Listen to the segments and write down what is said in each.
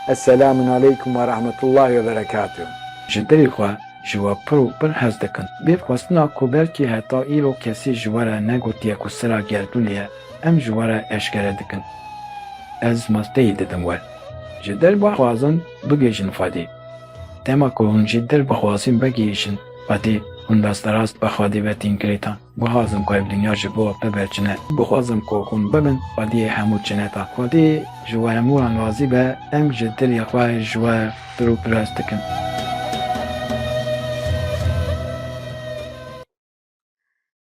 Eselamun aleykum ve rahmetullahi ve berekatuh. Ji dilê xwe ji we pir û pir hez dikim. Bê xwestina ku belkî heta îro kesî ji we re negotiye ku sira gerdûnê ye, em ji we re eşkere dikin. Ez masteyê didim we. Ji dil bixwazin bigihîjin Xwedê. Dema ku hûn ji dil bixwazin vegihîjin Xwedê, hûn rasterast bi Xwedê ve tîn girêdan. Guhazim ku ev dinya ji bo bibe çine. Guhazim ku hûn bibin xwediyê hemû çineta. Xwedî ji we hemû an razî be, em ji dilê xwe ji we pir û pirs dikin.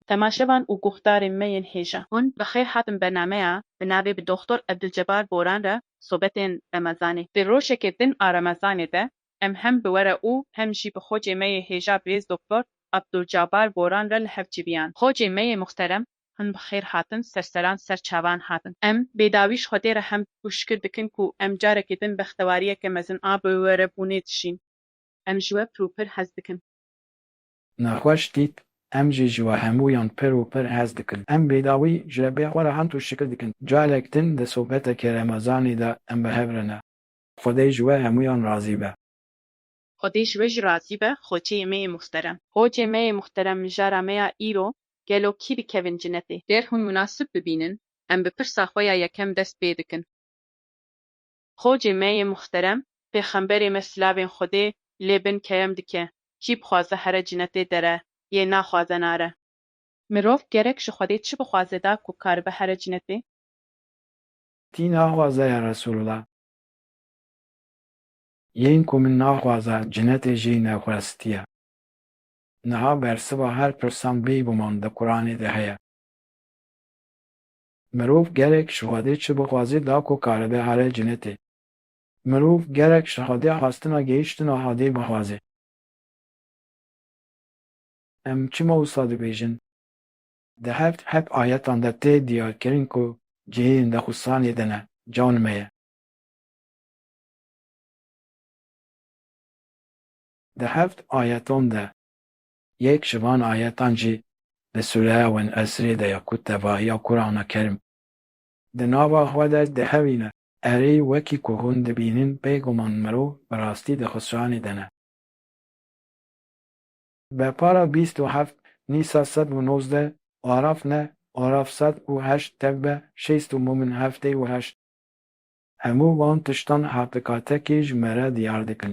Temaşevan û guhdarên me yên hêja. Hûn bi xêr hatin bernameya bi navê Bi Doxtor Ebdulcebar Boran re sobetên Remezanê. Di rojekê din a Remezanê de Em hem bi we re û hem jî bi xocê me yê hêja birêz Doktor Abdulcabar Boran re li hev civiyan. Xocê me yê muxterem hin bi xêr hatin, serseran ser çavan hatin. Em bêdawî ji Xwedê re hemd û şikir dikin ku em carekê din bextewariyeke mezin a bi we re bûnê dijîn. Em ji we pir û pir hez dikin. Nexweş dît, em jî ji we hemûyan pir û pir hez dikin. Em bêdawî ji Rebê xwe re hemd û şikir dikin. Carek din di sobeteke Remezanê de em bi hev re ne. Xwedê ji we hemûyan razî be. Xwedê ji we jî razî be Xoçeyê me yê muhterem. Hocê me yê muhterem mijara me ya îro gelo kî dikevin cinetê? Ger hûn munasib bibînin em bi pirsa xwe ya yekem dest pê dikin. Xocê me yê muhterem pêxemberê me silavên Xwedê lê bin keyem dike kî bixwaze here cinetê dere yê naxwaze nare. Mirov gerek ji Xwedê çi bixwaze da ku karibe here cinetê? Tîna axwaza ya Resûlullah yên ku min naxwaza cinetê jî nexwestiye. Niha bersiva her pirsan bê guman di Quranê de heye. Mirov gerek ji Xwedê çi bixwazê da ku karibe here cinetê. Mirov gerek ji Xwedê xwestina gehîştina Xwedê bixwazê. Em çima wisa dibêjin? Di hev hep ayetan de tê diyarkirin ku cihên di xusanê de ne, can me ye. Di hev ayetan de yek ji van ayetan jî di sûreya Wen Esrê de ya ku tevahiya Qurana Kerîm di nava xwe de dihewîne, erê wekî ku hûn dibînin bêguman mirov bi rastî di xusanê de ne. Be para bîst û heft nîsa sed û nozdeh araf ne araf sed û heşt tev be şêst û mumin heftê û heşt. Hemû wan tiştan heqîqatekî ji me re diyar dikin.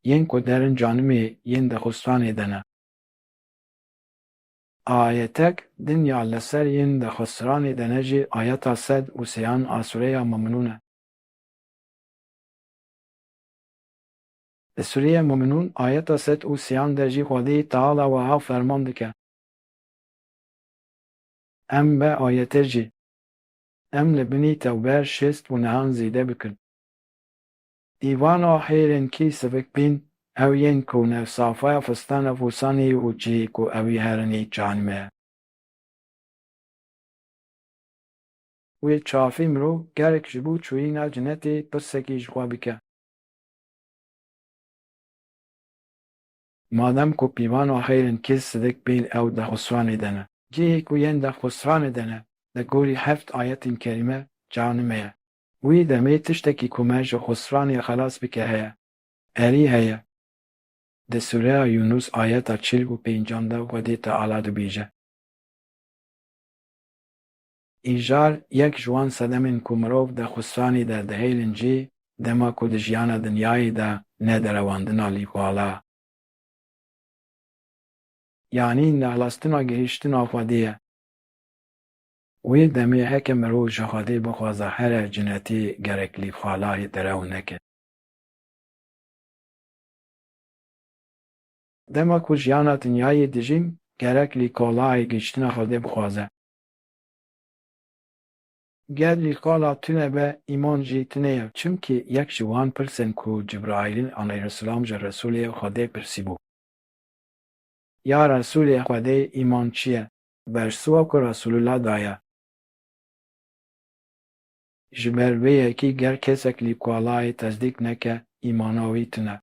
Yên ku derin canimê yên dexustanê de ne. Ayetek din ya li ser yên dexustiranê de ne jî ayeta sed û seyan a sureya Muminûn e. Li Sûriyê Mûminûn ayeta sed û sîyan de jî Xwedî Teala wiha ferman dike, Em be ayete jî, em li binî tewbe, şêst û nehan zêde bikin. Dîvana hêrên kî sivik bîn, ew yên ku nev safaya fistana fûsanî û cihê ku ewî herin î canîme ye. Wê çavafî mirov gerek ji bo çûyîna cinetê pirsekî ji xwe bike. Madem ku pîvana xêr in kêz sidik bên ew daxwesiranê de ne. Cihê ku yên daxwesiranê de ne, li gorî heft ayetên kerîme ca nimeye. Wî demê tiştekî ku me ji xwesiranê xelas bike heye? Erî heye. Di sûreya Yûnûs ayeta çil û pêncan de Xwedê Teala dibêje. Îcar, yek ji wan sedemên ku mirov di xwistranî de dihêlin jî, dema ku di jiyana dinyayê de ne derewandina lîvala, yanî nexlastina gihîştina Xwedê ye. Wê demê heke mirov ji Xwedê bixwaze here cinetê gerek lîvalayê derew neke. Dema ku jiyana dinyayê dijîm, gerek lîvalayê gihîştina Xwedê bixwaze. Ger lî qala tune be, îman jî tune ye. Çimkî yek ji wan pirsên ku Cibraîlîn aleyhesselam ji Resûlê Xwedê pirsîbû. Ya Resûlê Xwedê îman çi ye? Bersiva ku Resûlullah daye. Ji ber vê yekî ger kesek lî qalayê tesdîk neke, îmana wî tune.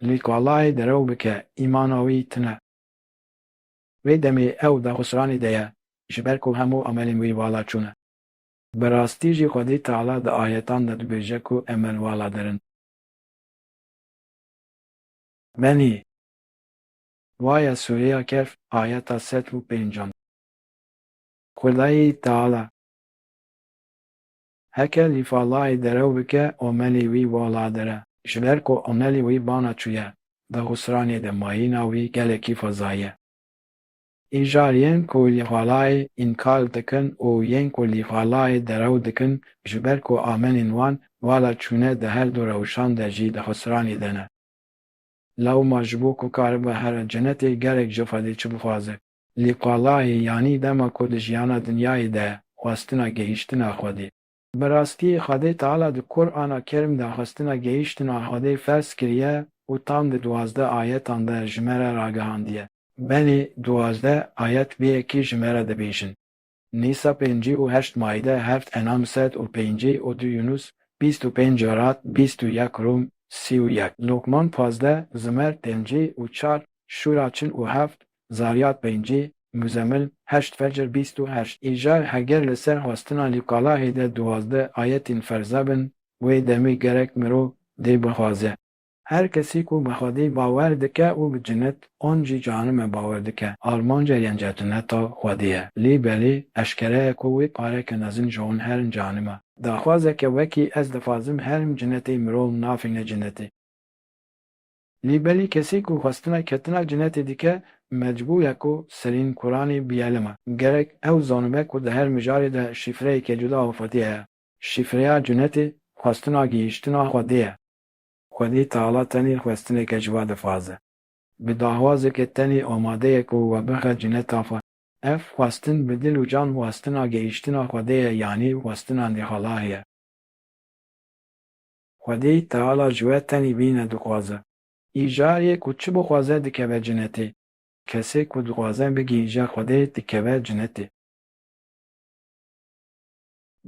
Lî qalayê derew bike, îmana wî tune. Wê demê ew daxusaranê de ye, ji ber ku hemû emelên wî vala çûn e. Bi rastî jî Xwedî Teala di ayetan de dibêje ku emel vala der in. Benî, Waye Sûreya Kehf ayeta sed û pênc an. Xwedayî Teala. Heke Lîfalayê derew bike omelî wî vala dere. Ji ber ku omelî wî bana çûye, Dagûsranê de mayîna wî gelekî feza ye. Îcar yên ku Lîfalayê înkal dikin û yên ku Lîfalayê derew dikin ji ber ku amenên wan vala çûne di her du rewşan de jî Dagûsranê de ne. Lewma ji bo ku karibe here cinetê gelek ji Xwedê çi bixwaze? Li qalayê yanî dema ku di jiyana dinyayê de xwestina gehîştina Xwedê. Bi rastî Xwedê Teala di Qur'ana Kerîm de xwestina gehîştina Xwedê ferz kiriye û tam di duwazdeh ayetan de ji me re ragihandiye. Belê duwazdeh ayet bê yekê ji me re dibêjin. Nisa pêncî û heşt Maîde, heft Enam sed û pêncî û du Yûnûs, bîst û pênc Rad, bîst û yek Rûm, sî û yek Lûqman, pazdeh Zûmer, pêncî û çar Şûra, çil û heft Zarîat, pêncî Mûzemil, heşt Fecr, bîst û heşt Îjar Heger li ser astina lîkalahê de duwazdeh ayetên ferza bin, wê demê gerek mirov dê bixwaze. Her kesî ku bi xwedî bawer dike û bi cinet an jî canime bawer dike, armanca yên cetineta xwedî ye. Lî belî eşkere ye ku wê pareke mezin ji wan herin canime. Daxwazeke wekî ez dixwazim herim cinetê mirov nafîne cinetê. Lî belî kesî ku xwestina ketina cinetê dike mecbûr e ku serîn Kuranê biyelime. Gerek ew zanibe ku di her mijarê de şîfreyeke cuda a xwedî heye. Şîfreya cinetê xwestina gihîştina xwedî ye. Xwedî Teala tenê xwestineke ji we dixwaze. Bi daxwazeke tenê amade ye ku we bixe cineta xwe. Ev xwestin bi dil û can xwestina gehîştina Xwedê ye yanî xwestina Nîxalahê ye. Xwedî Teala ji we tenê bîne dixwaze. Îcarê ku çi bixwaze dikeve cinetê. Kesê ku dixwaze bigihîje Xwedê dikeve cinetê.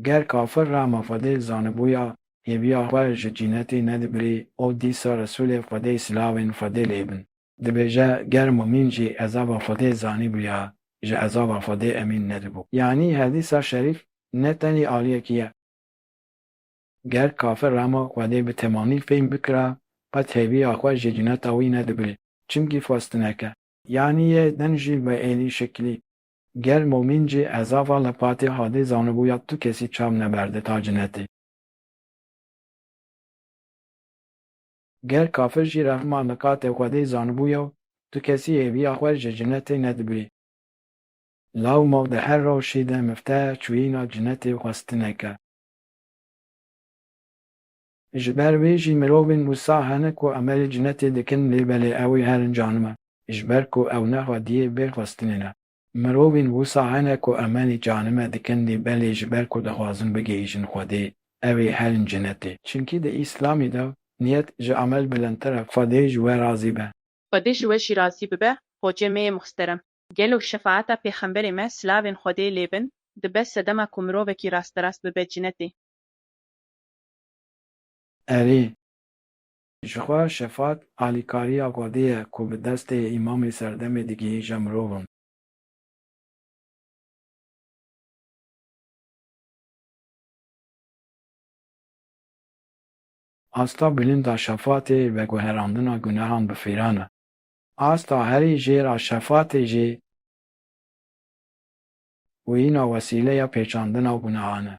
Ger kafir re mafadê zanibûya hêviya xwe ji cînetê nedibirî û dîsa Resûlê Xwedê silavên Xwedê lê bin dibêje, ger mûmîn jî ezaba Xwedê zanîbûya ji ezaba Xwedê emîn nedibû. Yanî hedîsa şerîf ne tenê aliyekî ye. Ger kafir rama Xwedê bi temamî fêhm bikira qet hêviya xwe ji cîneta wî nedibirî, çimkî fastine ke. Yanî yê din jî bi êlî şekilî Gel Momîn jî ezava li Patê Hadê zanibû ya tu kesî çav neberde ta cinetê. Gel Kafir jî rehma li Qatê Xwedê zanibû ya tu kesî hêviya xwe ji cinetê nedibirî. Law maw di her rewşî de mifteya çûyîna cinetê xwestineke. Ji ber vê jî mirovên wisa hene ku emelê cinetê dikin lê belê ew ê herin canime ji ber ku ew ne xwediyê bê xwestinê ne. Mirovên wisa hene ku emelê canime dikin lê belê ji ber ku dixwazin bigihîjin xwedê ew ê herin cinetê. Çimkî di Îslamî de niyet ji emel bilindtir e, xwedê ji we razî be. Xwedê ji we jî razî bibe Hocê me yê muhsterem. Gelo şefaeta pêxemberê me silavên xwedê lê bin dibe sedema ku mirovekî rasterast bibe cinetê. Erê, jixwe şefat alîkariya Xwedê ye ku bi destê Îmamê Serdemê digihîje mirovan. Asta bilind a şefatê veguherandina gunehan bi fîran e. Asta herî jêr a şefatê jî bûyîna wesîleya pêçandina gunehan e.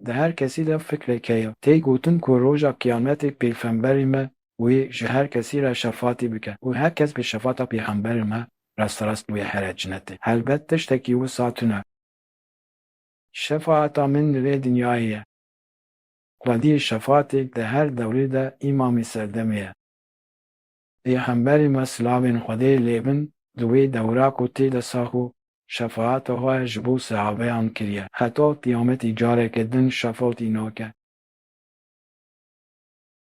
Di her kesî de fikrek heye. Tê gotin ku roja Qiyametê Pêxemberê me wê ji her kesî re şefatî bike û her kes bi şefata Pêxemberê me rastrast bûye here cinetê. Helbet tiştekî wisa tune. Şefaata min li vê dinyayê ye. Xwediyê şefatê di her dewrê de îmamê serdemê ye. Pêxemberê me silavên Xwedê lê bin di wê dewra ku tê de sax û şefaeta xwe ji bo sehabeyan kiriye, heta qiyametî careke din şefatî nake.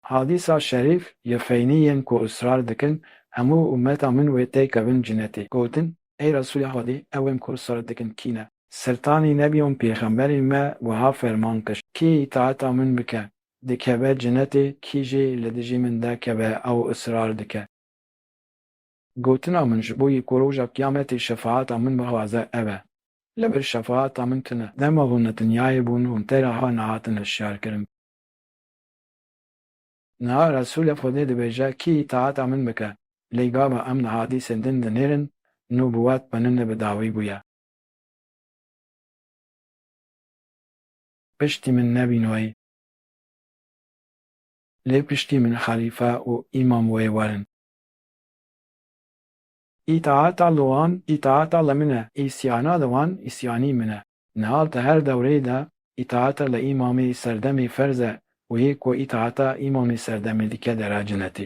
Hadîsa şerîf, Yefeynî yên ku israr dikin hemû ummeta min wê tê kevin cinetê, gotin, Ey Resûlê Xwedê ew ên ku israr dikin kî ne? Sertanî nebiyon pêxemberê me wiha ferman kir, Kê îtaeta min bike, Dikeve cinetê kî jî li dijî min nekeve ew israr dike. Gotina min ji bo yî ku roja kiyametê şefaata min bixwaze ev e. Li vir şefaata min tune. Dema hûn li dinyayê bûn hûn tê re ha nehatin hişyarkirin. Niha Resûlê Xwedê dibêje kî îtaata min bike. Lê gava em di hadîsê din dinêrin nûbûwet binine bi dawî bûye. Piştî min nebîn wey. Lê piştî min xelîfe û îmam wey werin. Îtaeta li wan îtaeta li min e, îsyana li wan îsyanî min e. Nihal di her dewreyê de îtaeta li îmamê serdemê ferz e û yê ku îtaeta îmamê serdemê dike derece netê.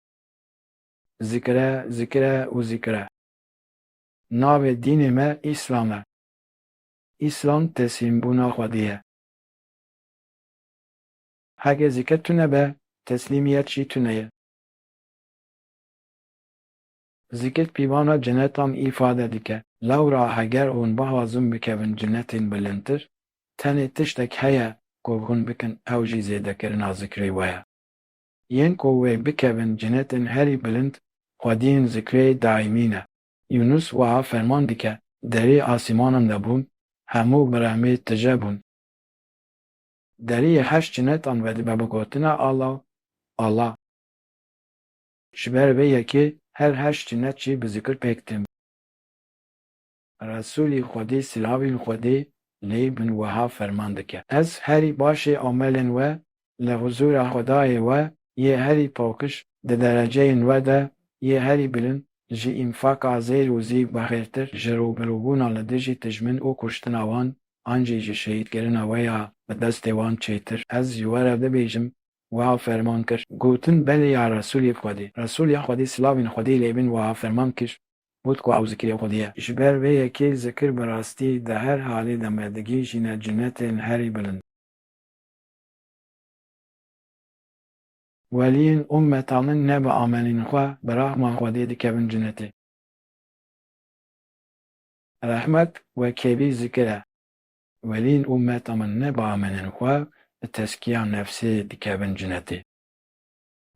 Zikre, zikre û zikre. Navê dînê me Îslam e. Îslam teslîmbûna Xwedê ye. Heke zikre tune be, teslîmiyet jî tune ye. Zikr pîvana cenetan îfade dike. Lewra heger hûn bixwazin bikevin cenetên bilindtir, tenê tiştek heye ku hûn bikin ew jî zêdekirina zikrê we ye. Yên ku wê bikevin cinetên herî bilind xwediyên zikrê daîmî ne. Yûnus wiha ferman dike, Derî asîmanan de bûn, hemû biremî tije bûn. Deriyê heşt cinetan vedibe bi gotina Ala! Ala! Ji ber vê yekê her heşt cinet jî bi zikir pêk têm. Resûlî Xwedî silavên Xwedî lê min wiha ferman dike, Ez herî başê amelên we li huzûra Xwedayê we yê herî pakiş di dereceyên we de yê herî bilind ji înfaka zêr û zî bixêrtir ji rûbirûbûna li dijî tijmin û kuştina wan an jî ji şehîdkirina we ya bi destê wan çêtir ez ji we re bibêjim wiha ferman kir gotin belê ya Resûlî Xwedî Resûlî Xwedî silavên Xwedî lê min wiha ferman kir Got ku ew zikirê xwedî ye. Ji ber vê yekê zikir bi rastî di her halê de me digihîşîne cinetên herî bilind. Weliyên ummeta min ne bi amelên xwe, bi rexma xwedî dikevin cinetê. Rehmet we kevî zikir e. Weliyên ummeta min ne bi amelên xwe, bi teskiya nefsê dikevin cinetê.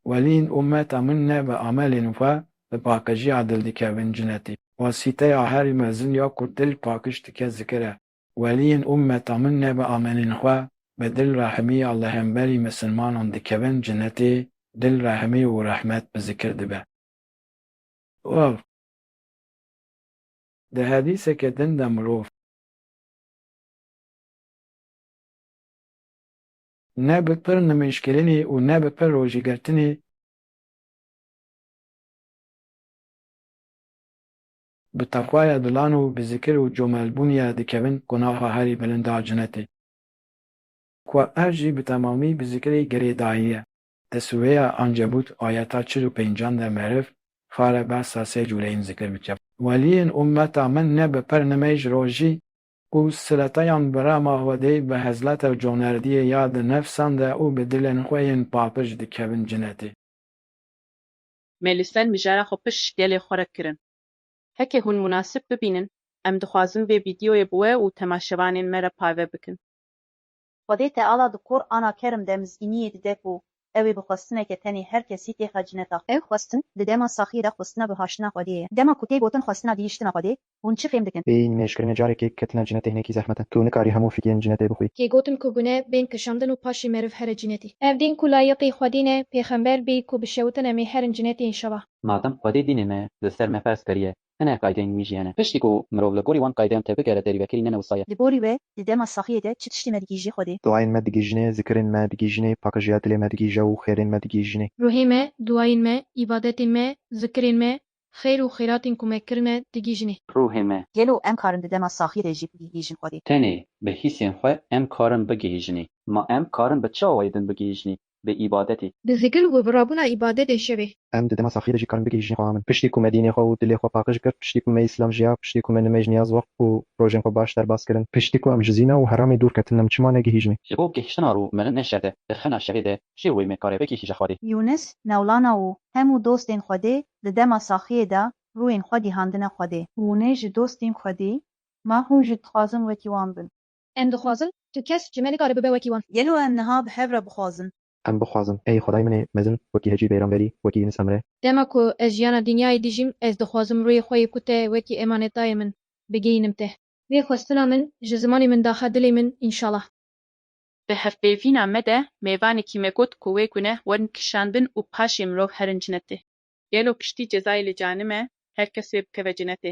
Welîn û meta min ne bi amelên xwe bi pakijiya dil dikevin cinetî. Wasîteya herî mezin ya ku dil pakiş dike zikir e. Welîn û meta min ne bi amelên xwe bi dil rehimî ya li hemberî misilmanan dikevin cinetî, dil rehimî û rehmet bi zikir dibe. Wav. Di hedîsekê din de mirov. Ne bi pir nimêjkirinê û ne bi pir rojîgirtinê, bi teqwaya dilan û bi zikir û comelbûniyê dikevin qonaxa herî bilind a cinetê. Ku ev jî bi temamî bi zikirê girêdayî ye. Di sûreya Ancebût ayeta çil û pêncan de meriv xare behsa sê cûreyên zikir bike. Weliyên ummeta min ne bi pir nimêj rojî Û siletayan birama Xwedê bi hezlete û comerdiyê ya di nefsan de û bi dilên xwe yên paqij dikevin cinetê. Me li ser mijara xwe pişt gelê xwe re kirin. Heke hûn munasib bibînin, em dixwazin vê vîdyoyê bi we û temaşevanên me re parve bikin. Xwedê Teala di kor ana kerm de mizgîniyê dide ku ew ê bi xwestineke tenê her kesî tê xwe cine tax. Ev xwestin di dema saxiyê de xwestina bihaştina Xwedê ye. Dema ku tê gotin xwestina gihîştina Xwedê, hûn çi fêm dikin? Bêyîn mêşkirinê carekê ketina cine tehnekî zehmet e. Tu nikarî hemû fikên cine tê bixwî. Tê gotin ku gune bên kişandin û paşê meriv here cine tê. Ev dîn ku layiqî Xwedî ne, pêxember bî ku bi şewitin em ê herin cine tên şeva. Madem Xwedê dînê me li ser me ferz kiriye, Hinek qaydeyên wî jî hene. Piştî ku mirov li gorî wan qaydeyan tevbigere derî ve kirî ne ne wisa ye. Li gorî we di dema saxiyê de çi tiştî me digihîjî Xwedê? Duayên me digihîjînê, zikirên me digihîjînê, pakijiya dilê me digihîje û xêrên me digihîjînê. Ruhê me duayên me, îbadetên me, zikirên me, xêr û xêratên ku me kirine digihîjînê. Ruhê me. Gelo em karin di dema saxiyê de jî bigihîjîn Xwedê? Tenê bi hîsên xwe em karin bigihîjînê. Ma em karin bi çi awayî din bigihîjînê? bi îbadetê. Bi zikir û birabûna îbadetê şevê. Em di dema safiyê de jî karin bigihîjîn xweha min. Piştî ku me dînê xwe û dilê xwe paqij kir, piştî ku me îslam jiya, piştî ku me nimêj niyaz wext û rojên xwe baş derbas kirin, piştî ku em ji zîna û heramê dûr ketin em çima negihîjinê? Ji bo gihîştina rû merind ne şert e, di xena şevê de jê wê me kare vekî hîje Xwedê. Yûnis, Mewlana û hemû dostên Xwedê di dema safiyê de rûyên xwe gihandine Xwedê. Hûnê ji dostên Xwedê, ma hûn jî dixwazin wekî wan bin. Em dixwazin tu kes ji me nikare bibe wekî wan. Gelo em niha bi hev re bixwazin? Em bixwazin ey Xwedayê min ê mezin wekî Hecî Beyramverî, wekî Yunus Emre. Dema ku ez jiyana dinyayê dijîm ez dixwazim rûyê xwe yê ku te wekî emanetdayê min bigihînim te. Vê xwestina min ji zimanê min daxe dilê min înşala. Di hevpeyvîna me de mêvanekî me got ku wê guneh werin kişandin û paşê mirov herin cinetê. Gelo piştî cezayê li canime her kes wê bikeve cinetê?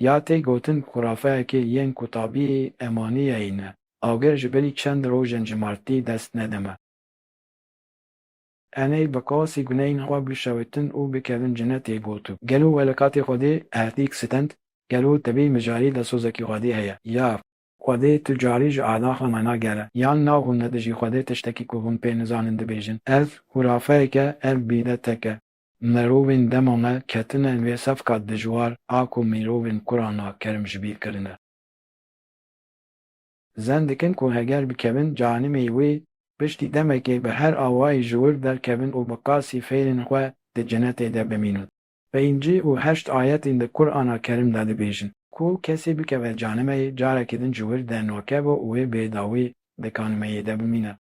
Ya tê gotin xurafeyekê yên qutabîyî emanîyeyî ne. Agir ji binî çend rojên ji martdî dest nedime. Eney bi qasî guneyên xwe bişewitin û bikevin cine tê gotu. Gelo we li qatê Xwedê erdîk sitend? Gelo te bî mijarî desozekî Xwedê heye? Ya. Xwedê tu carî ji adaxa me nagere. Yan naxwin ne dijî Xwedê tiştekî ku hûn pê nizanin dibêjin. Ev xurafeyeke, ev bîdeteke. Mirovên dema me ketine li vê sefka dijwar a ku mirovên kura na kerm ji bîr kirine. Zen dikin ku heger bikevin canimê wê piştî demekê bi her awayî ji wir derkevin û bi qasî fêrên xwe di cenetê de bimînin. Pêncî û heşt ayetên di kurana kerim de dibêjin ku kesê bikeve canimeyê carekî din ji wir de nakevo û wê bê dawî di kanimeyê de bimîne.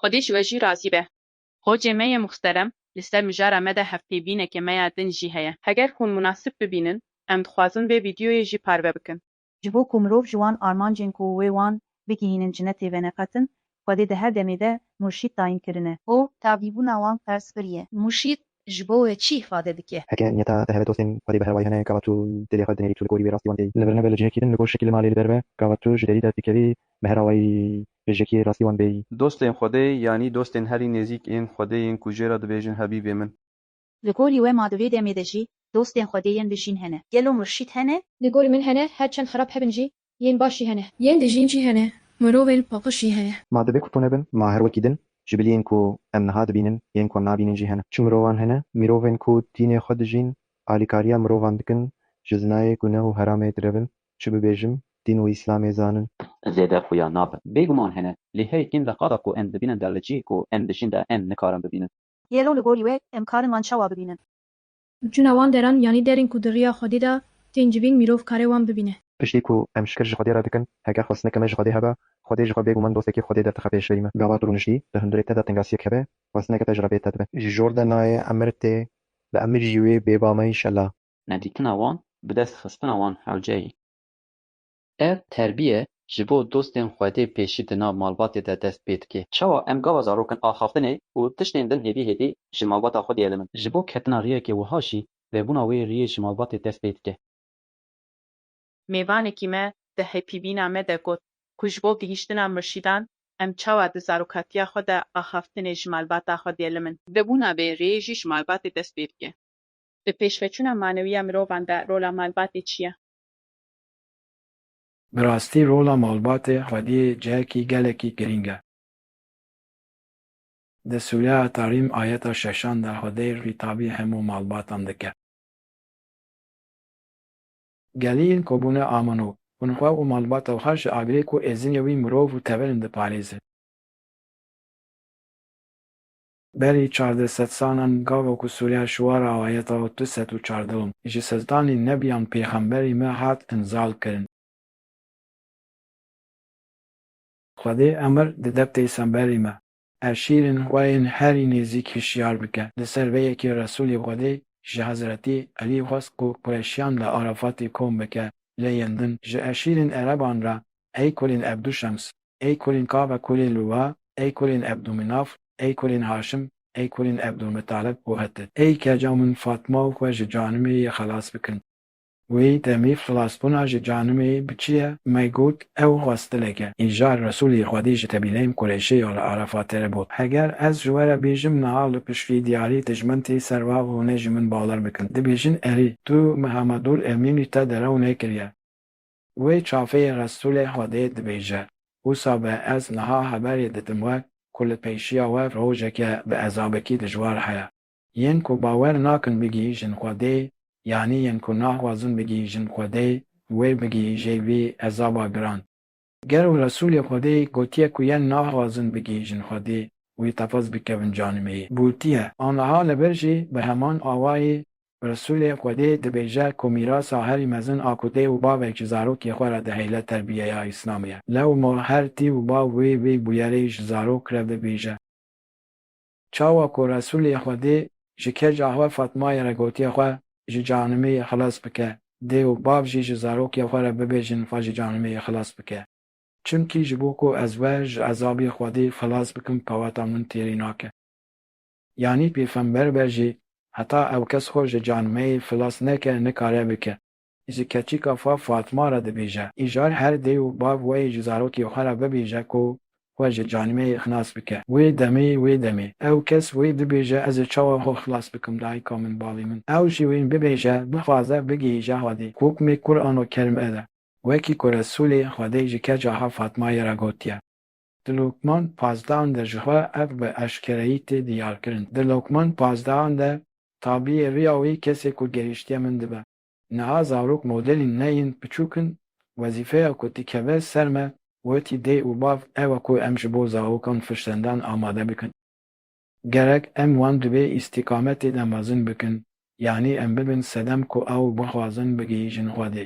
Xwedê ji we jî razî be. Hocê me yê muxterem, li ser mijara me de hevpêvînekê me ya din jî heye. Heger hûn munasib bibînin, em dixwazin vê vîdyoyê jî parve bikin. Ji bo ku mirov ji wan armancên ku wê wan bigihînin cinetê veneqetin, Xwedê di her demê de murşîd tayîn kirine. Ho, tavîbûna wan qers bir ye. Murşîd Ji bo we çi îfade dike? Heke niyeta te hebe dostên xwedê behrewayî hene gava tu dilê xwe dinêrî tu li gorî wê rastî wan têyî. Li vir nebe li cihekî din li gor şekî li malê li ber be gava tu ji derî derdikevî behrewayî li jekî rastî wan bêyî. Dostên xwedê yanî dostên herî nêzîk ên xwedê yên ku jê re dibêjin hebîbê min. Li gorî we ma di vê demê de jî dostên xwedê yên bijîn hene. Gelo mirşîd hene? Li gorî min hene her çend xerab hebin jî Yên baş jî hene. Yên dijîn jî hene. Mirovên paqij jî hene. Ma dibe ku tu nebin, ma her wekî din. Ji bilî yên ku em niha dibînin, yên ku em nabînin jî hene. Çi mirovan hene? Mirovên ku tînê xwe dijîn, alîkariya mirovan dikin, ji zinayê, guneh û heramê direbin. Çi bibêjim, dîn û îslamê zanin. Zêde xuya nabin. Bêguman hene. Lê hey kêm veqa da ku em bibînin de li cihê ku em dijîn de em nikarin bibînin. Gelo li gorî wê em karin wan çawa bibînin? Çûna wan deran yanî derên ku di riya Xwedê de tên civîn mîrov kare wan bibîne. Piştî ku em şikir ji Xwedê re dikin, heger xwestineke me ji Xwedê hebe, Xwedê ji xwe bê gûman dostekî Xwedê derdixe pêş verî me. Gava tu rûniştî, di hundirê te de tengasiyek hebe, xwestineke te ji re bê te dibe. Ji jor de nayê emir tê, bi emir jî wê bê ba me îşela. Nedîtina wan, bi dest xistina wan hewce yê. Ev terbiye ji bo dostên Xwedê pêşî di nav malbatê de dest pê dike. Çawa em gava zarokin axaftinê û tiştên din hêvî hêvî ji malbata xwe dielîmin. Ji bo ketina riyekê wiha jî vebûna wê riyê ji malbatê dest pê dike. Mêvanekî me di hepîbîna me de got ku ji bo gihîştina murşîdan em çawa di zarokatiya xwe de axaftinê ji malbata xwe dielîmin. Vebûna vê riyê jî ji malbatê dest pê dike. Di pêşveçûna manewiya mirovan de rola malbatê çi ye? Bi rastî rola malbatê xwediyê cihekî gelekî girîng e. Di sûreya Tarîm ayeta şeşan de Xwedê rîtabî hemû malbatan dike. Geliyên ku bûne amano, hûn xwe û malbata xwe ji agirê ku êzinê wî mirov û tevin in diparêzin. Berî çardeh sed salan gava ku sûreya Şiwar a ayeta du sed û çardehûm ji Siltanê Nebiyan Pêxemberî me hat imzal kirin. Xwedê emir dide pêsemberî me, eşîrên xwe yên herî nêzîk hişyar bike li ser vê yekê Resûlê Xwedê ji Hezretî Elî xwest ku Qureyşiyan li Arafatê kom bike lê yên din ji eşîrên ereban re ey kulên Ebdû Şems Ey kurên Kabe kurên Luwa, ey kurên Ebdûminaf, ey kurên Haşim, ey kurên Ebdûlmitalib û Hetit. Ey keca min Fatma û xwe ji canimê yê xelas bikin. Wê demê xilasbûna ji canimê bi çi ye? Me got, Ew xwestilek e. Îcar Resûlê Xwedî ji tebîleyên Qurêşê ya li Arafatê re got, Heger ez ji we re bêjim niha li piştî diyarî dijmin tê ser va hûn ê ji min bawer bikin. Dibêjin erê, tu Mihamadûl Emînî te derew nekiriye. Wê çaveyê Resûlê Xwedê dibêje, Wisa be ez niha heberê didim we ku li pêşiya we rojeke bi ezabekî dijwar heye. Yên ku bawer nakin bigihîjin Xwedê, yanî yên ku naxwazin bigihîjin Xwedê, wê bigihîjê vî ezaba giran. Gero Resûlê Xwedê gotiye ku yên naxwazin bigihîjin Xwedê, wî tefez bikevin canimêyî. Gotiye, Aniha li vir jî bi heman awayî Resûlê Xwedê dibêje ku mîrasa herî mezin a ku dê û bavek ji zarokê xwe re dihêle terbiyeya Îslamê ye. Lewma her tî û bav wê vê bûyerê ji zarok re bibêje. Çawa ku Resûlê Xwedê ji keca xwe Fatmayê re gotiye xwe ji cehenimeyê xilas bike, dê û bav jî ji zarokê xwe re bibêjin xwe ji cehenimeyê xilas bike. Çimkî ji bo ku ez we ji ezabê Xwedê xilas bikim peweta min têrê nake. Yanî pêxember be jî heta ew kes xwe ji canmeyê xilas neke nikare bike. Ji keçika xwe Fatma re dibêje, îcar her dê û bav wayê ji zarokê xwe re bibêje ku xwe ji canmeyê xilas bike. Wê demê wê demê ew kes wê bibêje ez ê çawa xwe xilas bikim dayika min bavê min. Ew jî wê bibêje bixwaze bigihîje Xwedê. Hukmê Kur'ano Kerim ev e. Wekî ku Resûlê Xwedê ji keca ha Fatmayê re gotiye. Di lokman pazdahan de jixwe ev bi eşkereyî tê diyarkirin. Di lokman pazdahan de tabiyê riya wî kesê ku gehiştiye min dibe. Niha zarok modelîn ne yên piçûk in, wezîfeya ku dikeve ser me wetî dê û bav ew e ku em ji bo zarokan fiştendan amade bikin. Gerek em wan di vê îstîkametê de mezin bikin, yanî em bibin sedem ku ew bixwazin bigihîjin Xwedê.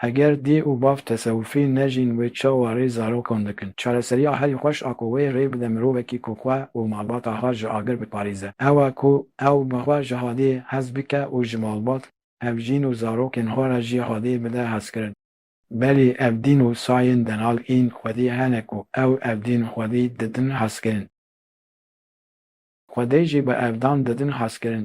Heger dê û bav tesewufî nejîn wê çawa rê zarokan dikin? Çareseriya herî xweş a ku wê rê bide mirovekî ku xwe û malbata xwe ji agir biparêze ew e ku ew bi xwe ji hadê hez bike û ji malbat, hevjîn û zarokên xwe re jî hadê bide hezkirin. Belê ev dîn û sayên denal ên xwedî hene ku ew ev dîn xwedî didin hezkirin. Xwedê jî bi ev dan didin hezkirin.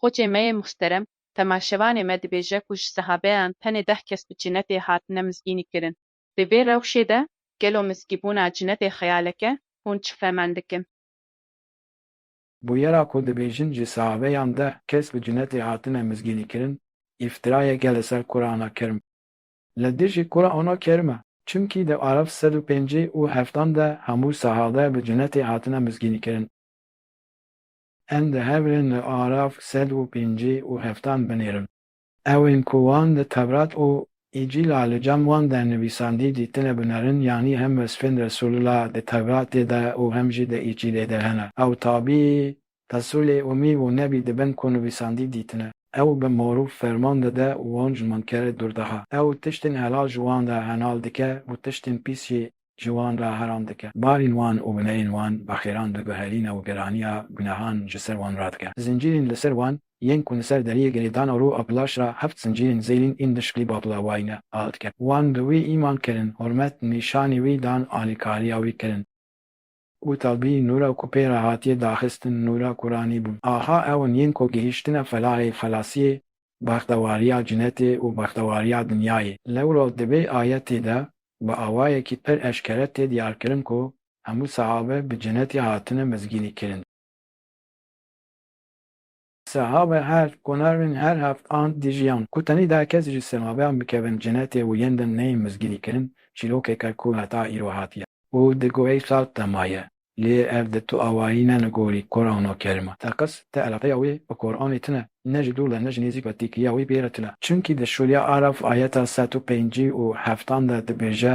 Koçê me yê muhterem temaşevanê me dibêje ku ji sehabeyan tenê deh kes bi cinetê hatine mizgînîkirin. Di vê rewşê de gelo mizgîbûna cinetê xeyalek e? Hûn çi fehm dikin? Bûyera ku dibêjin ji sehabeyan deh kes bi cinetê hatine mizgînîkirin îftirayek e li ser Kurana Kerim. Li dijî Kurana Kerim e. Çimkî di araf sed û pêncî û heftan de hemû sehabe bi cinetê hatine mizgînîkirin. Em di hevrên li Araf sed û pêncî û heftan binêrin. Ewên ku wan di Tevrat û Încîla li cem wan dernivîsandî dîtine binerin, yanî hem wesfên Resûlillah di Tevratê de û hem jî di Încîlê de hene. Ew tabî, Resûlê Umî û Nebî dibin ku nivîsandî dîtine. Ew bi marûf ferman dide û wan ji munkere dûr diha. Ew tiştên helal ji wan re helal dike û tiştên pîs jî ji wan re heram dike. Barîn wan û bineyên wan bexêran diguherîne û geraniya gunehan ji ser wan radike. Zincîrên li ser wan yên ku li ser deriyê gelê dana rû a Pilaş re heft zincîrên zêrîn ên dişklî bapla wayî ne a dike. Wan bi wî îman kirin, hurmet nîşanî wî dan alîkariya wî kirin. Ku tabî nûra ku pê re hatiye daxistin nûra Quranî bû. Axa ew in yên ku gihîştine felahê xelasiyê, bextewariya cinetê û bextewariya dinyayê. Lewra di vê ayetê de bi awayekî pir eşkere tê diyarkirin ku hemû sehabe bi cinetê hatine mizgînîkirin. Sahabe her konarên her hev an dijiyan ku tenê deh kes ji semabeyan bikevin cenetê û yên din neyên mizgînîkirin çîrokeke ku heta îro hatiye û di goreyî saz de maye lê ev di tu awayî ne li gorî Quran û Kerîma te qis te eleqeya wê bi Quranê tune ne ji dûr de ne ji nêzîk de tîkiliya wê bê re tune çimkî di Sûriya Araf ayeta sed û pêncî û heftan de dibêje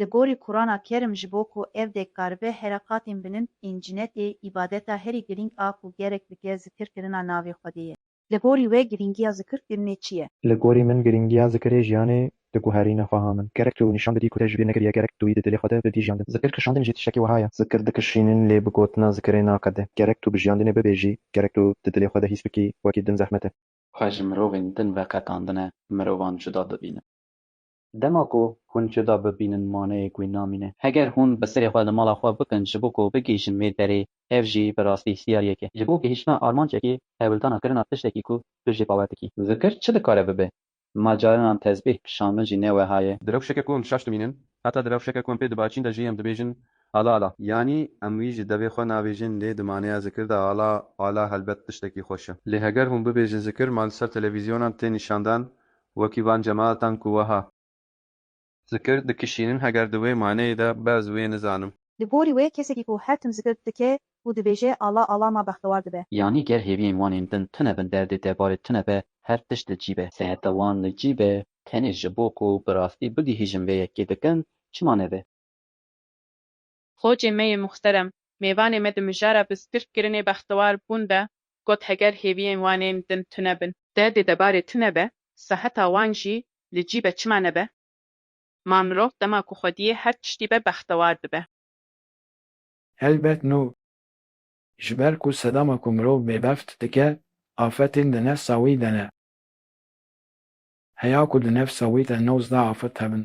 Li gorî Kurana Kerim ji bo ku ev dek karibe here qatên bilind ên cinetê îbadeta herî girîng a ku gerek dike zikir kirina navê Xwedê ye. Li gorî we girîngiya zikir kirinê çi ye? Li gorî min girîngiya zikirê jiyanê diguherîne xweha min. Gerek tu nîşan bidî ku te ji bîr nekiriye gerek tu wî di dilê xwe de bidî jiyandin. Zikir kişandin jî tiştekî wiha ye. Zikir dikişînin lê bi gotina zikirê naqede. Gerek tu bi jiyandinê bibêjî gerek tu di dilê xwe de hîs bikî wekî din zehmet e. Xwe ji mirovên din veqetandine mirovan cuda bibîne. Dema ku hûn cuda bibînin maneyek wê namîne. Heger hûn bi serê xwe li mala xwe bikin ji bo ku bigihîjin wê derê ev jî bi rastî siyariyek e. Ji bo gihîştina armancekê hewildana kirina tiştekî ku tu jê bawer dikî. Zikir çi dikare bibe? Ma carinan tezbîh kişandin jî ne weha ye. Di rewşeke ku em şaş dimînin, heta di rewşeke ku em pê dibaçîn de jî em dibêjin Ala Ala. Yanî em wî ji devê xwe nabêjin lê di maneya zikir de Ala Ala helbet tiştekî xweş e. Lê heger hûn bibêjin zikir ma li ser televîzyonan tê nîşandan Wekî van cematan ku weha. Zikir dikişînin heger di wê maneyê de be ez wê nizanim. Li gorî wê kesekî ku her tim zikir dike û dibêje Allah Allah ma bextewar dibe. Yanî ger hêviyên wan ên din tune bin derdê te barê tune be her tişt li cî be. Seheta wan li cî be tenê ji bo ku bi rastî bigihîjin vê yekê dikin çima nebe. Xocê me yê muhterem, mêvanê me di mijara bizkirkirinê bextewar bûn de got heger hêviyên wan ên din tune bin. Derdê debarê tune be, seheta wan jî li cî be çima nebe? Ma mirov dema ku xwediyê her tiştî be bextewar dibe. Helbet no. Ji ber ku sedama ku mirov bêbeft dike afetên di nefsa wî de ne. Heya ku di nefsa wî de nozdeh afet hebin.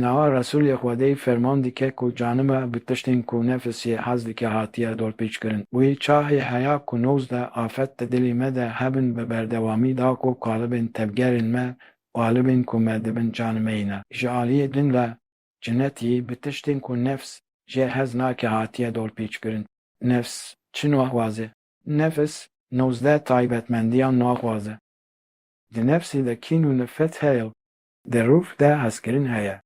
Niha Resûlê Xwedê ferman dike ku canime bi tiştên ku nefisî hez dike hatiye dorpêçkirin. Wê çavê heya ku nozdeh afet di dilê me de hebin bi berdewamî da ku qalibên tevgerên me, qalibên ku me dibin canimeyê ne. Ji aliyê din re cinetî bi tiştên ku nefs jê hez nake hatiye dorpêçkirin. Nefs çi naxwaze? Nefs nozdeh taybetmendiyan naxwaze. Di nefsê de kîn û nifret heye Di rûv de hezkirin heye.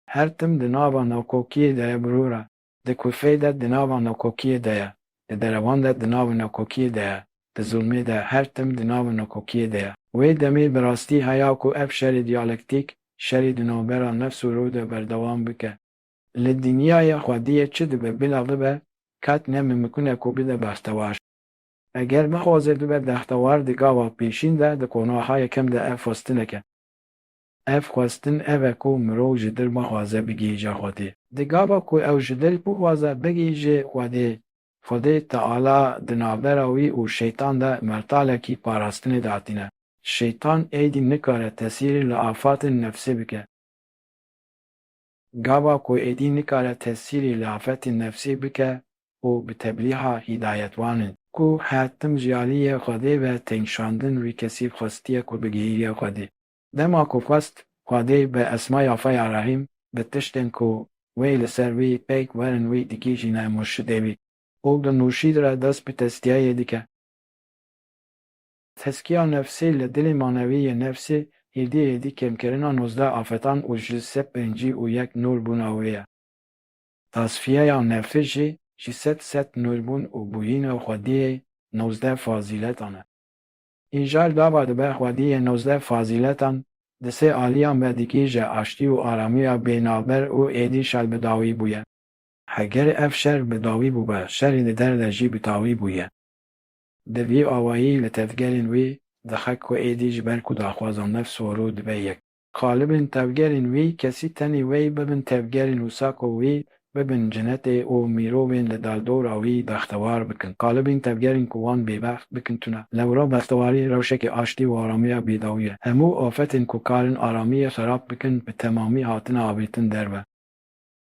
Her tim di nava nakokiyê de ye birûra, di kufeyê de di nava nakokiyê de ye, di derevan de di nava nakokiyê de ye, di zûlmê de her tim di nava nakokiyê de ye. Wê demê bi rastî heya ku ev şerê diyalektîk, şerê di navbera nefs û rûh de berdewam bike. Li dinyayê xwediyê çi dibe bila bibe, ket ne mimikun e ku bide bextewar. Eger bixwaze bibe bextewar di gava pêşîn de di qonaxa yekem de ev xwestineke ye. Ev xwestin ev e ku mirov ji dil bixwaze bigihîje Xwedê. Di gava ku ew ji dil bixwaze bigihîje Xwedê, Xwedê Teala di navbera wî û Şeytan de mertalekî parastinê datîne. Şeytan êdî nikare tesîrî li afatên nefsê bike. Gava ku êdî nikare tesîrî li afetên nefsî bike û bi teblîha hîdayetwanin, ku her tim ji aliyê Xwedê ve tên şandin wî kesî xwestiye ku bigihîge Xwedê. Dema ku xwest Xwedê bi Esma ya xwe ya Rehîm, bi tiştên ku wê li ser wî peyk werin wî digihîjîne murşidê wî û bi murşîd re dest bi testiyeyê dike. Teskiya nefsê li dilê manewî yê nefsê êdî êdî kêmkirina nozdeh afetan û ji sed pêncî û yek nûrbûna wê ye. Tasfiyeya nefis jî ji sed sed nûrbûn û bûyîna xwediyê nozdeh fazîletan e. Îcar dava dibe xwediyê nozdeh fazîletan di sê aliyan ve dikîje aştî û aramiya bê navber û êdî şer bi dawî bûye. Heger ev şer bi dawî bûbe, şerê li der de jî bi tawî bûye. Di vî awayî li tevgerên wî dixe ku êdî ji ber ku daxwazan ne sorû dibe yek. Qalibên tevgerên wî kesî tenê wey bibin tevgerên wisa ku wî bibin cinetê û mîrovên li daldora wî bextewar bikin. Qalibên tevgerên ku wan bêbext bikin tune. Lewra bextewarî rewşekê aştî û aramiya bêdawî ye. Hemû afetên ku karin aramiyê xerab bikin bi temamî hatine avêtin derve.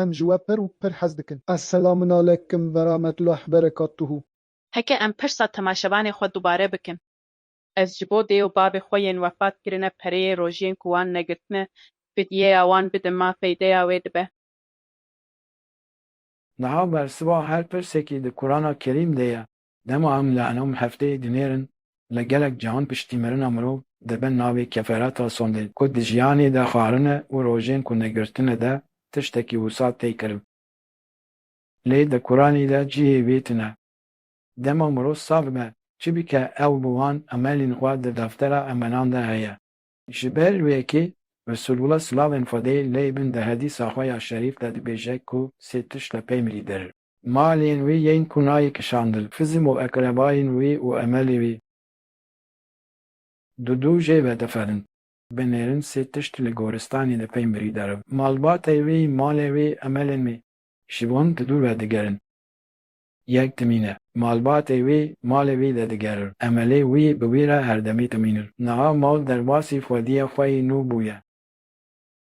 Em ji we pir û pir hez dikin. Eselamunalekum verametulah berekatuhu. Heke em pirsa temaşevanê xwe dubare bikin. Ez ji bo dê û babê xwe yên wefat kirine pereyê rojiyên ku wan negirtine fidyeya wan bidim ma feydeya wê dibe? Niha bersiva her pirsekî di Kurana Kerîm de ye. Dema em li enom hefteyê dinêrin li gelek cahan piştî mirina mirov dibe navê keferata sondê ku di jiyanê de xwarine û rojên ku negirtine de tiştekî wisa tê kirin. Lê di Kuranê de cihê vê tune. Dema mirov sal be çi bike ew bi wan emelên xwe di deftera emelan de heye. Ji ber wê kê Resûlullah silavên Xwedê lê bin di hedîsa xwe ya şerîf de dibêje ku sê tişt li pey mirî der. Malên wî yên ku nayê kişandin. Xizm û eqrebayên wî û emelê wî. Dûdû jê vediferin. Binêrin sê tişt li goristanê de peynbirî derin. Malbatê wî, malê wî, emelên wî. Ji wan dûdû vedigerin. Yek dimîne. Malbatê wî, malê wî vedigerir. Emelê wî bi wî re herdemî dimînir. Niha mal derbasî xwediyê xwe yî nû bûye.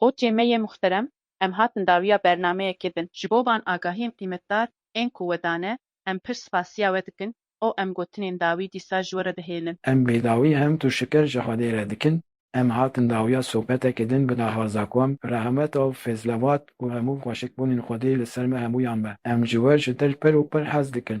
Xocê me yê muxterem, em hatin dawiya bernameyekê bin. Ji bo van agahiyên qîmetdar ên ku we dane, em pir spasiya we dikin û em gotinên dawî dîsa ji we re dihêlin. Em bêdawî hemd û şiker ji Xwedê re dikin. Em hatin dawiya sobetekê din bila xaza ku em rehemet û fêzlevat û hemû xweşikbûnên Xwedê li ser me hemûyan be. Em ji we ji dil pir û pir hez dikin.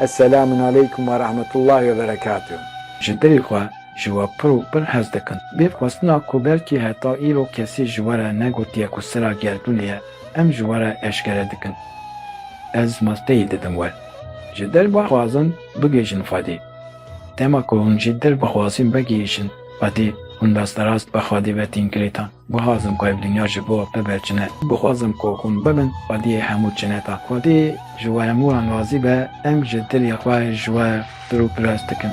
Eselamun aleykum ve rahmetullahi ve berekatuh. Ji dilê xwe ji we pir û pir hez dikim. Bê xwestina ku belkî heta îro kesî ji we re negotiye ku sira gerdûnê ye, em ji we re eşkere dikin. Ez masteyê didim we. Ji dil bixwazin bigihîjin Xwedê. Dema ku hûn ji dil bixwazin vegihîjin Xwedê, hûn rasterast bi Xwedê ve tên girêdan. Guhazim ku ev dinya ji bo bibe çine. Guhazim ku hûn bibin xwediyê hemû çine tan. Xwedî ji we hemû ran razî be, em ji dilê xwe ji we pirû pirs dikin.